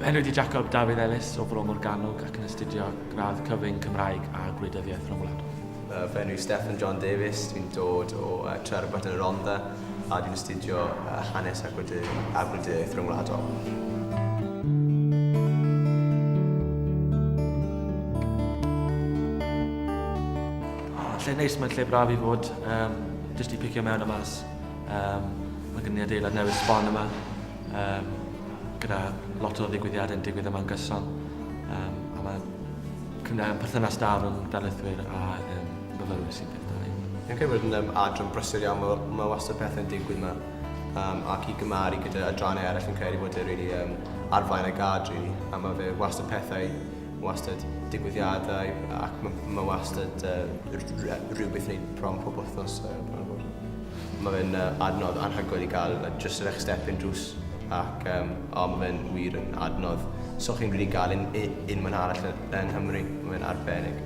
Enw di Jacob Dafydd Ellis o Bro Morgannwg ac yn astudio gradd cyfyng Cymraeg a Gwleidyddiaeth Rhyngwladol. Uh, fy enw Stefan John Davies, dwi'n dod o uh, Trerbert yn y Rhondda. a dwi'n astudio hanes a gwleidyddiaeth ryngwladol. Mae'n lle neis, mae'n lle braf i fod, yym jyst i picio mewn a mas. Yym mae gen i adeilad newydd sbon yma yym gyda lot o ddigwyddiadau yn digwydd yma'n gyson yym a mae perthynas da rhwng darlithwyr a myfyrwyr sy'n dda. Fi'n credu bod yn yym adran brysur iawn ma' w- ma' wastad pethe'n digwydd 'ma yym ac i gymaru gyda adrannau eryll fi'n credu bod e rili yym ar flaen y gad rili a ma' fe wastad pethau wastad digwyddiadau ac ma' ma' wastad yy r- r- yy rhywbeth neud bron pob wthnos yy bron a bod. Ma' fe'n yy adnodd anhygoel i ga'l yy jyst yr eich step-in drws ac yym o ma' fe'n wir yn adnodd so chi'n rili ga'l un u- unman arall yy yng Nghymru. Ma' fe'n arbennig.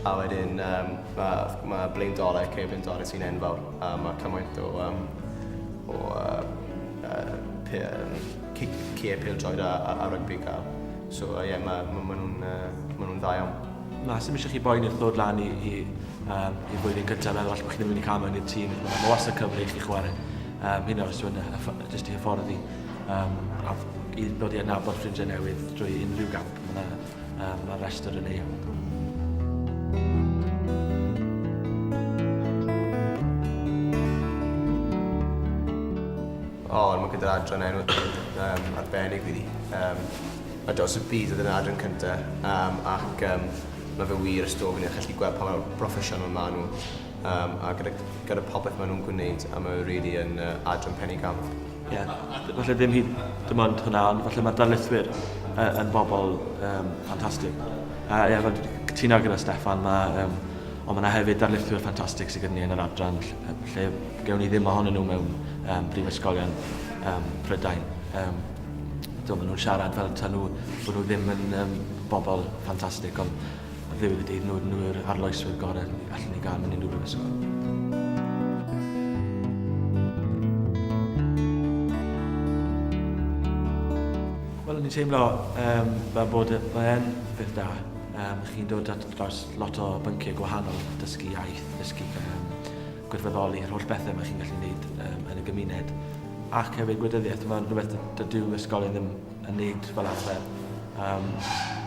A wedyn um, mae ma Blaine Dore, Cei Blaine Dore sy'n enfawr, a mae cymaint o, um, o uh, uh, pe, um, cie pildroed a, a, a rygbi cael. So ie, uh, yeah, mae ma, ma nhw'n uh, ma nhw dda iawn. Na, sy'n eisiau chi boen i'r ddod lan i, i, um, i flwyddyn gyntaf, meddwl allan bod chi'n mynd i cael mewn i'r tîm. Mae ma wastad cyfle i chi chwarae. Um, hyn oes dwi'n jyst i hyfforddi. Um, a i ddod i adnabod ffrindiau newydd drwy unrhyw gamp. Mae Um, mae'r rhestr yn ei. O, oh, mae gyda'r adran enw um, arbennig fi. Um, mae Dos y Byd oedd yn adran cyntaf, um, ac um, mae fe wir ysdofyn i chi gweld pa mor broffesiynol maen nhw, um, a gyda, gyda popeth maen nhw'n gwneud, a mae rili yn uh, adran penny gamp. Ie, falle ddim hyd dim ond hwnna, ond falle mae'r darlithwyr uh, yn bobl um, ffantastig. A ie, fel cytuno gyda Steffan, mae, um, ond mae yna hefyd darlithwyr ffantastig sydd gyda ni yn yr adran lle, lle gewn ni ddim ohonyn nhw mewn um, brifysgolion um, Prydain. Um, do, maen nhw'n siarad fel ta nhw, bod nhw ddim yn um, bobl ffantastig, ond Fe fydd y dydd nod nhw yw'r arloeswyr gorau allan ni gael mewn unrhyw brifysgol. Wel, ni'n teimlo um, fel bod e, mae'n beth da. Um, chi'n dod at dros lot o bynciau gwahanol, dysgu iaith, dysgu um, gwirfoddoli, yr holl bethau mae chi'n gallu gwneud um, yn y gymuned. Ac hefyd gwleidyddiaeth, mae'n rhywbeth dydyw ysgolion ddim a nid fel arfer. Um,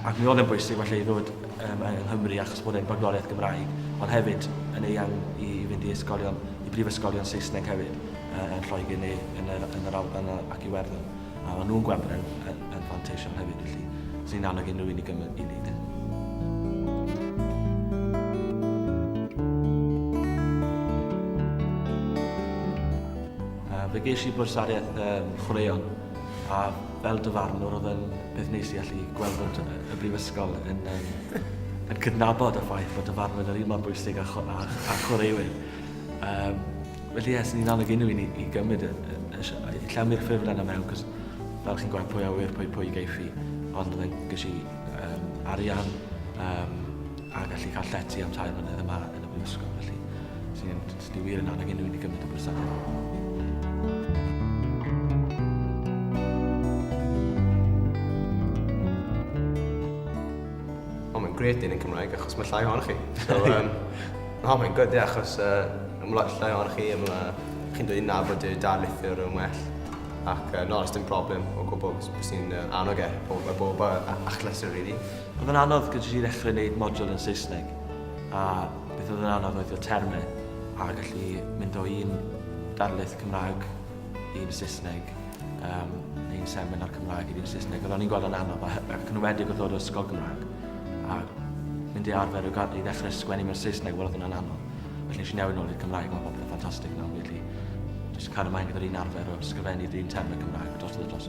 ac mi oedd e'n bwysig felly i ddod um, yng Nghymru achos bod e'n bagloriaeth Gymraeg, ond hefyd yn eang i fynd i ysgolion, i brifysgolion Saesneg hefyd, uh, yn Lloegr neu yn yr, yn yr Alban ac Iwerddon. A maen nhw'n gweld bod e'n yn, yn fanteision hefyd, felly sy'n annog unrhyw un i gymryd i wneud e. Fe geis i bwrsariaeth um, chwaraeon A fel dyfarnwr oedd e'n peth neis i allu gweld bod y Brifysgol yn, um, yn cydnabod y ffaith bod dyfarnwr yr un mor bwysig a, cho, a, a chwaraewyr. Um, felly yes, ni'n annog unrhyw un i, i gymryd y, y, y, y llawmir ffurflen yna mewn, cos fel chi'n gweld pwy a wir, pwy pwy geiff i, ond oedd e'n gysi um, arian um, a gallu cael llety am tair mlynedd yma yn y Brifysgol, felly sy'n Dwi wir yn annog unrhyw un i gymryd y gwasanaeth. grêt dyn yn Cymraeg achos mae llai ohonoch chi. So, um, no, mae'n gwyd, yeah, achos uh, mae lot llai ohonoch chi, mae chi'n dweud na fod y darlithiwr yn well. Ac uh, no, os dim problem o gwbl, bys ni'n uh, annog e, bob, bob achlysur, really. Ond mae'n anodd gyda ti ddechrau gwneud model yn Saesneg, a Beth oedd yn anodd oedd y termau a gallu mynd o un darlith Cymraeg i'n Saesneg, um, neu'n seminar Cymraeg i'n Saesneg. Oedd o'n i'n gweld yn anodd, ac yn wedig oedd o'r ysgol Gymraeg. A mynd i arfer i ddechrau sgwennu mewn Saesneg, wel oedd yn anodd. Felly nes i newid nôl i'r Cymraeg, mae popeth yn ffantastig nawr, felly jyst cael ymlaen gyda'r un arfer o sgrifennu dyn termau Cymraeg dros y dros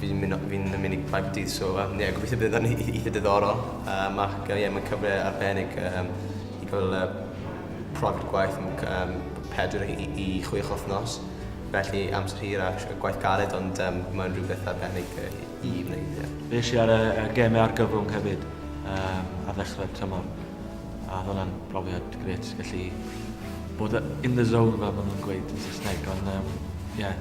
Fi'n mynd o- fi'n yn mynd i Caerdydd so yym ie gobeithio bydd o'n ei- eitha diddorol yym ac yy ie mae'n cyfle arbennig yym i ca'l yy profiad gwaith am c- yym pedwar i i chwech wthnos felly amser hir a sh- gwaith galed ond yym mae'n rhywbeth arbennig yy i i wneud ie. Fi esh i ar y y geme argyfwng hefyd yym ar ddechre'r tymor a odd wnna'n brofiad grêt gallu bod y- in the zone fel ma' nw'n gweud yn Sysneg on' yym ie.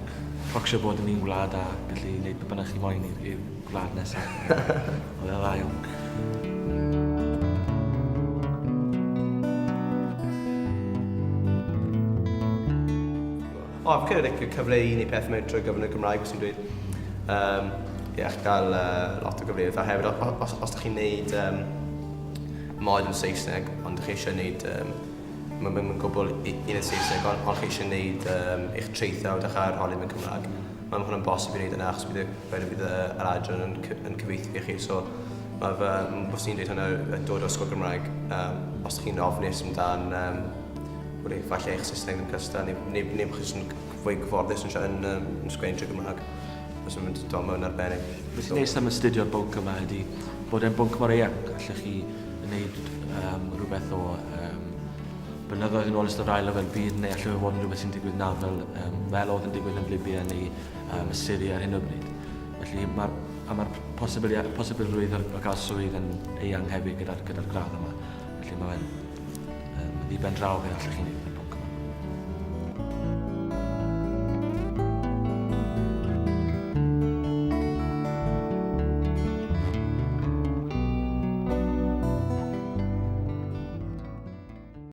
Procsio bod yn un gwlad a gallu neud be bynnag chi moyn i'r i'r gwlad nesa. Oedd e dda iawn. O fi'n credu like y cyfle i neud pethe mewn trwy gyfrwng y Gymraeg os ti'n dweud yym ie chi'n ca'l yy lot o gyfleoedd a hefyd o- o- os os dych chi'n neud yym mod yn Saesneg ond dych chi isie neud yym Mae'n mynd yn gwbl un yn Saesneg, ond os chi eisiau gwneud um, eich traethawd a'ch arholi mewn Cymraeg, mae'n hwn yn bosib i wneud yna, achos bydd, bydd, bydd yr adran yn, yn cyfeithi i chi. So, mae fy, os ni'n dweud hwnna, yn dod o'r sgol Gymraeg, um, os chi'n ofnus amdan, um, wrth eich falle eich Saesneg yn cystal, neu, neu, neu bod chi'n fwy gyfforddus yn, yn, um, yn sgwennu drwy Gymraeg, os yn mynd dol mewn arbennig. Beth sy'n neis am astudio bwnc yma ydy bod e'n bwnc mor eang, allech chi yn neud um, rhywbeth o um, blynyddoedd yn ôl ystod ail lefel byd neu allai fod yn rhywbeth sy'n digwydd nawr fel, um, fel oedd yn digwydd yn Libya neu um, y Syria ar hyn o bryd. Felly mae'r a mae'r posibilrwydd o gael swydd yn eang hefyd gyda'r gyda gradd yma. Felly mae'n Yn ddiben draw fe allech chi wneud